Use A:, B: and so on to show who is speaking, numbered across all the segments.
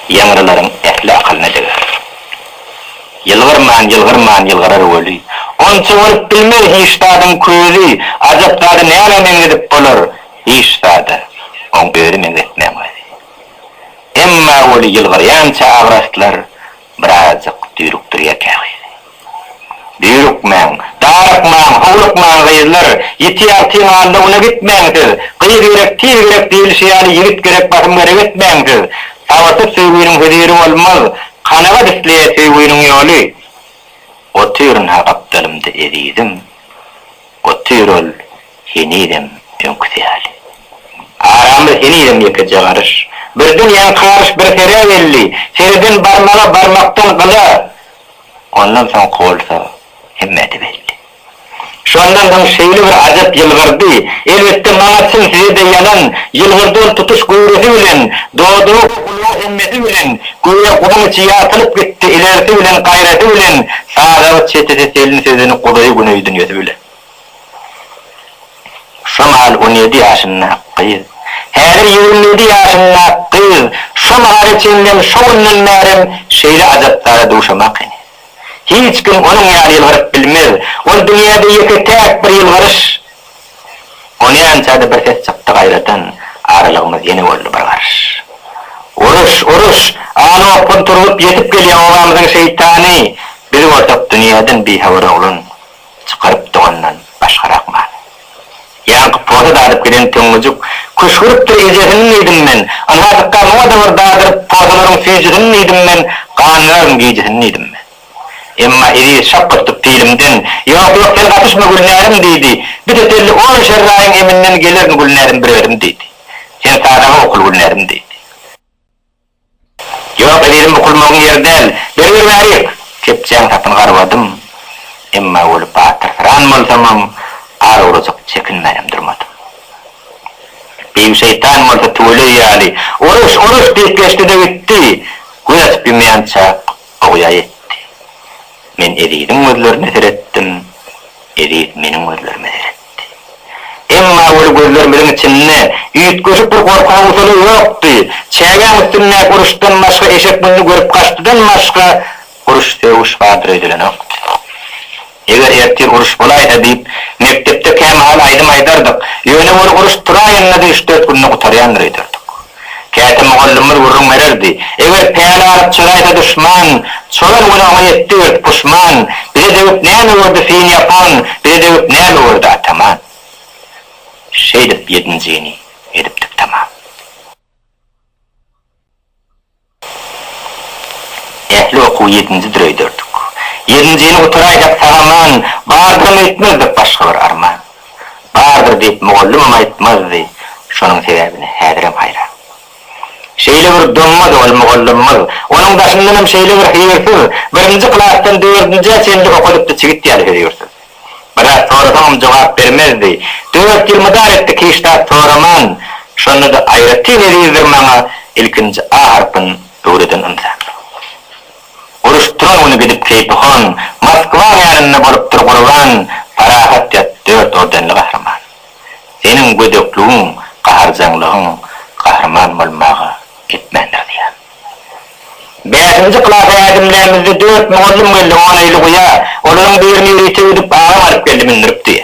A: Ýaňrylaryň ähli akylyny deger. Ýylgyrman, ýylgyrman ýylgyrar weli, Onça bolup bilmez hiç zadyň közi, Ajap zady nämä meňzedip bolar, Hiç zada oň özi meňzetmän gözi. Emma weli ýylgyrýança agraslar Birazjyk düýrükdirýä käbizi. Düýrükmäň, darykmaň, howlukmaň, gyzlar! Ýitýär tiň alda güne gitmäň siz! Gyz gerek, tiz gerek diýlişi ýaly, ýigit gerek, basym gerek etmäň siz! Sabyrsyz söýginiň höziri bolmaz, kanagat isleýär söýginiň ýoly. Otyryn-ha gapdalymda ezizim, otyr ol henizem öňküsi ýaly. Aramyz henizem ýekeje garyş. Birden ýaňky garyş bir serä geldi. Sereden barmaga, barmakdan gyla. Ondan soňky bolsa hemmä-de belli. Şondan soň şeýle bir ajap ýylgyrdy, elbetde, maňa çyn, size-de ýalan, ýylgyrdy ol tutuş göwresi bilen, dodagy we gulagy hemmesi bilen, göýä guzyň içi ýagtylyp gitdi, ilerisi bilen, gaýrasy bilen, sadagy çetesi selin sözüni guzaýy güneý dünýesi bilen. Şo mahaly on ýedi ýaşyndaky gyz, häzir ýigrimi ýedi ýaşyndaky gyz şo mahala çenlem, şo günden bärem şeýle ajap zada duşamak ene. Hiç kim onuň ýaly ýylgyryp bilmez. Ol dünýäde ýeke-täk bir ýylgyryş. Onýança-da bir ses çykdy gaýradan, aralygymyz ýene boldy bir garyş. Uruş, uruş! Al-okgun turzup ýetip gelýä obamyzyň şeýtany! Biz bolsak dünýäden bihabar oglan. Çykaryp dogandan başgarak many. Ýaňky poza dadyp giden Töňňejuk köş görüpdir ejesini diýdim men, Ynhajykka muňa-da bir dadyryp pozalaryň süýjüsini diýdim men, Ganlaryň gijisini diýdim men. Emma Eziz şak gysyp pilimden, Ýok, ýok, sen gatyşma Gülnärim diýdi, Bite telli on şerraýyň eminden gelerin Gülnärim bir özüm diýdi. Sen sadaga okul Gülnärim diýdi. Ýok, ezizim bukulmagyň ýeri däl. Bergir bärik! Kepjäň sapyny garbadym. Emma weli batyrsyrän bolsamam, az ozajyk çekinmänem durmadym. Beýik şeýtan bolsa tüweleý ýaly, Uruş, uruş! diýip geçdi-de gitdi. Göz açyp ýumýançak ogýa ýetdi. Men eziziň gözlerine seretdim, eziz meniň gözlerime seretdi. Emma weli gözlerimiziň içinde üýtgeşik bir gorky howsala ýokdy. Çägäň üstündäki uruşdan başga, eşek muny görüp gaçdydan başga uruş sögüş hadyr edilenokdy. Eger ertir uruş bolaýsa diýip, mekdepde kämahal aýdym aýdardyk. Ýöne weli uruş turaýanda-da üç-dört günde gutarýandyr öýderdik. Käte mugallymymyz gürrüň bererdi, Eger päli alyp çyraýsa duşman, Çolan günaha etdi ört puşman, Bize degip näme gördi fin ýapan, Bize degip näme gördi ataman. Şeýdip ýedinjini edipdik tamam. Ähli okuwy ýedinji dür öýderdik. Ýedinjini gutaraýsak sag-aman bardyram öýtmezdik başga bir arman. Bardyr diýip mugallymam aýtmazdy, şonuň sebäbine häzirem haýran. Şeýle bir doňmaz ol mugallymymyz, onuň daşyndanam şeýle bir hyýrsyz, birinji klasdan dördünjä çenli okadypdy çigit ýaly hözürsüz. Biraz sorasaňam jogap bermezdi. Dört ýyl mydar etdi Kişdap soraman. Şonda-da aýratyn ezizdir maňa ilkinji A harpyn öwreden ynsan. Uruş turan güni gidip keýpi hon, Moskwaň ýanynda bolupdyr gurban, Parahat ýat dört ordenli gahryman. Seniň gödekligiň, gaharjaňlygyň gahryman bolmaga etmändir zyýan. Bäşinji klasa ädimlämizde dört mugallym geldi, oneýli guýa, olaryň birini ýörite ödüp agam alyp geldi mündüripdi.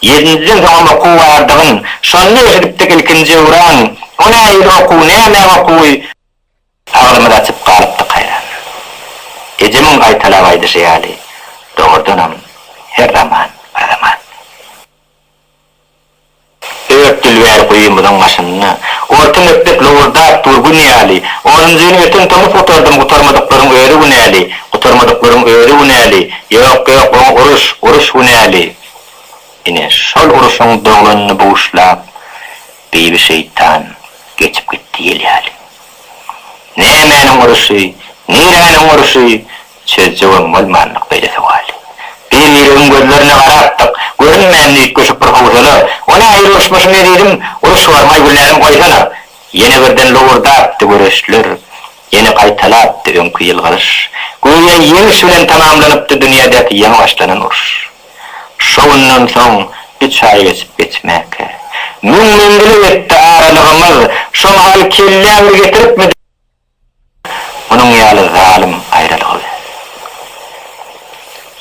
A: Ýedinjiden soňam okuw bardygyn şonda eşidipdik ilkinji öwran, o nähili okuw, nämäň okuwy, agzymyzy açyp galypdyk haýrandan, ejemiň gaýtalap aýdyşy ýaly dogrudanam her zaman bir zaman. Dört dilbär guýymyzyň başynda. Orta mekdep lowurdap dur gün ýaly. Onunjyny öten tomus gutardym Gutarmadyklaryň özi günäli, Gutarmadyklaryň özi günäli, Ýok, ýok, oňa uruş, uruş günäli. Ine, şol uruşyň doglanyny buşlap, Bibi şeýtan geçip gitdi ýel ýaly. Nämäniň uruşy, niräniň uruşy? Çözjegem bolmandyk beýle sowaly. Bir-birimiziň gözlerine garapdyk. Görünmänini üýtgeşik bir howsala, O nähili uruşmyşyň ezizim? Uruş barmaý Güllänem goýsana! Ýene birden lowurdapdy göreçler. Ýene gaýtalapdy öňki ýylgyryş. Göýä ýeňiş bilen tamamlanypdy dünýädäki ýaňy başlanan uruş. Şo günden soň üç aý geçip geçmäkä. Müň menzile ýetdi aralygymyz. Şo mahal kelläňir getiripmidi? Munuň ýaly zalym aýralygy biz.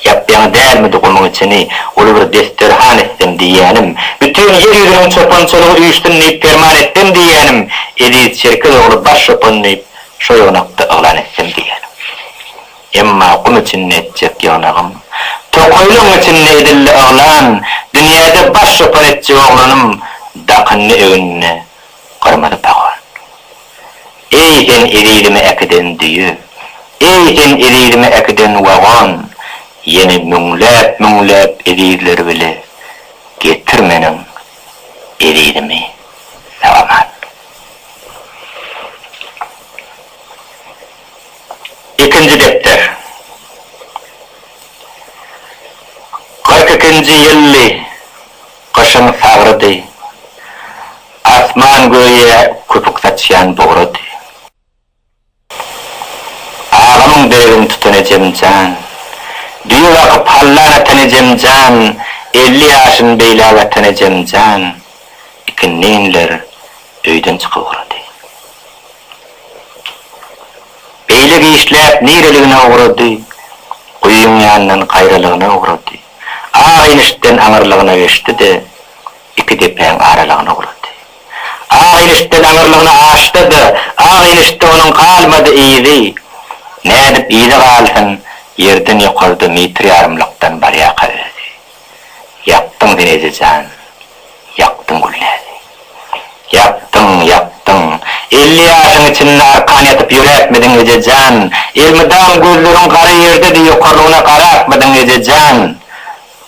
A: Ýap-ýaňy dälmidi gumuň içini uly bir desterhan etsem diýýänim, bütin ýer ýüzüniň çopançalygy üýşsün diýip perman etsem diýýänim, eziz Çerkez ogly baş çopan diýip şo ýygnakda yglan etsem diýýänim. Emma gum içinde etjek ýygnagym, tokaýlygyň içinde edildi yglan, dünýäde baş çopan etjek oglanym dakyndy egnine, Gyrmyzy pahuan. Eý, sen ezizimi äkiden düýe, Eý, sen ezizimi äkiden wagon, Ýene müňläp-müňläp ezizleri bile Getir meniň ezizimi sag-aman. Ikinji depder. Kyrk ikinji ýyldy. Gyşyň sagrydy. Asman göýä köpük saçýan bugrady. Agamyň deregini tutan ejem jan. Düýe bakyp hallan atan ejem jan, elli ýaşyn beýläk atan ejem jan, ikinleýinler öýden çykyp ugrady. Beýle giçläp nireligine ugrady, guýyň ýanyndan gaýralygyna ugrady. Ak ilişden aňyrlygyna geçdi-de, iki depäň aralygyna ugrady. Ak ilişden aňyrlygyna aşdy-da, ak ilişde onuň galmady yzy. Nädip yzy galsyn, ýerden ýokarda metr ýarymlykdan barýaka özi. Ýakdyň sen, Eje jan! Ýakdyň güllesi. Ýakdyň, ýakdyň. Elli ýaşyň içinde arkan ýatyp ýöräpmidiň, eje jan? Elmydam gözleriň gara ýerde-de ýokarlygyna garapmydyň, eje jan?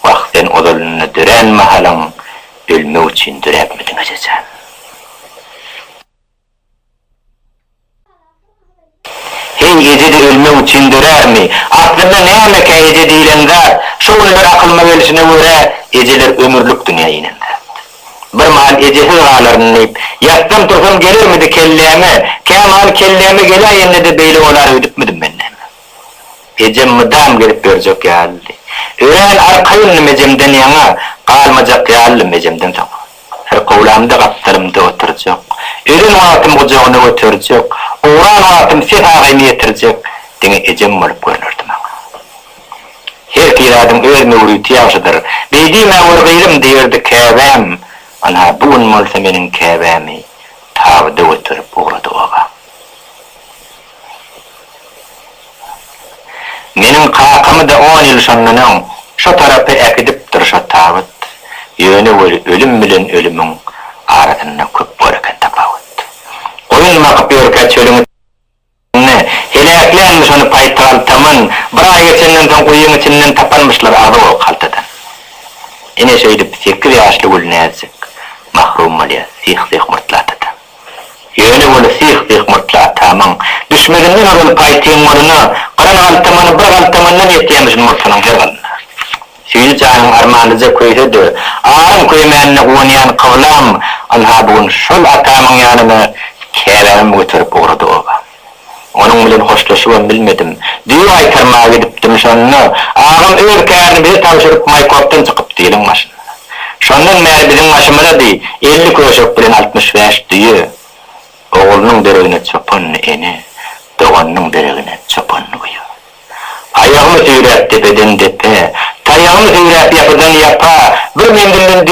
A: Wah, sen ozalynda dörän mahalyň ölmek üçin döräpmidiň, eje jan? Heý, eje-de ölmek üçin dörärmi? Aslynda nämekä eje diýlen zat? Şu günler akylyma gelşine görä, ejeler ömürlik dünýä inen zat. Bir mahal ejesiz galaryn diýip, ýatsam-tursam gelermidi kelläme, kämahal kelläme geläýende-de beýle bolar öýdüpmidim men näme? Ejem mydam gezip ýörjek ýalydy. Örän arkaýyndym ejemden ýaňa, galmajak ýalydym ejemden soňa. Syrkawlamda gapdalymda oturjak. Ölen wagtym gujagyna göterjek. Owran wagtym ses agaýyma ýetirjek. Diňe ejem bolup görnerdi maňa. Her piradyň öz möwriti ýagşydyr. Beý diýmä gör gyzym diýerdi käbäm. Ana, bu gün bolsa meniň käbämi tabyda göterip ugrady obam. Meniň kakamy-da on ýyl şondan öň şo tarapa äkidipdir şo tabyt. Ýöne weli ölüm bilen ölümiň arasynda köp bor eken tapawut. Goýun bakyp ýörkä çölüň içinde heläklänmiş ony paýtgal-taman, bir aý geçenden soň guýyň içinden tapanmyşlar agzy ol kaltadan. Ine şeýdip sekiz ýaşly Gülnäzik mahrum bolýar syh-syh murtly atadan. Ýöne ony syh-syh murtlataýmaň. Düşmezinden ozal paýtyň monyna gyran galtamany bir galtamandan ýetýämişin murtunyň her gylyna. Süýji janyň armanlyja köýse-de, aryň köýmänine guwanýan kyblam, ynha, bu gün şol atamyň ýanyna käbämem göterip ugrady oba. Onuň bilen hoşlaşybam bilmedim. Düýe gaýtarmaga gidipdim, şonda, Agam öz kärini bize tabşyryp, Maýkopdan çykypdy iliň başyna. Şondan bäri biziň başymyza deý elli köşek bilen altmyş bäş düýe. Oglunyň deregine çopanly ene, doganynyň deregine çopanly uýa. Aýagymy süýräp depeden-depä, taýagymy süýräp ýapydan-ýapa bir menzilden düýe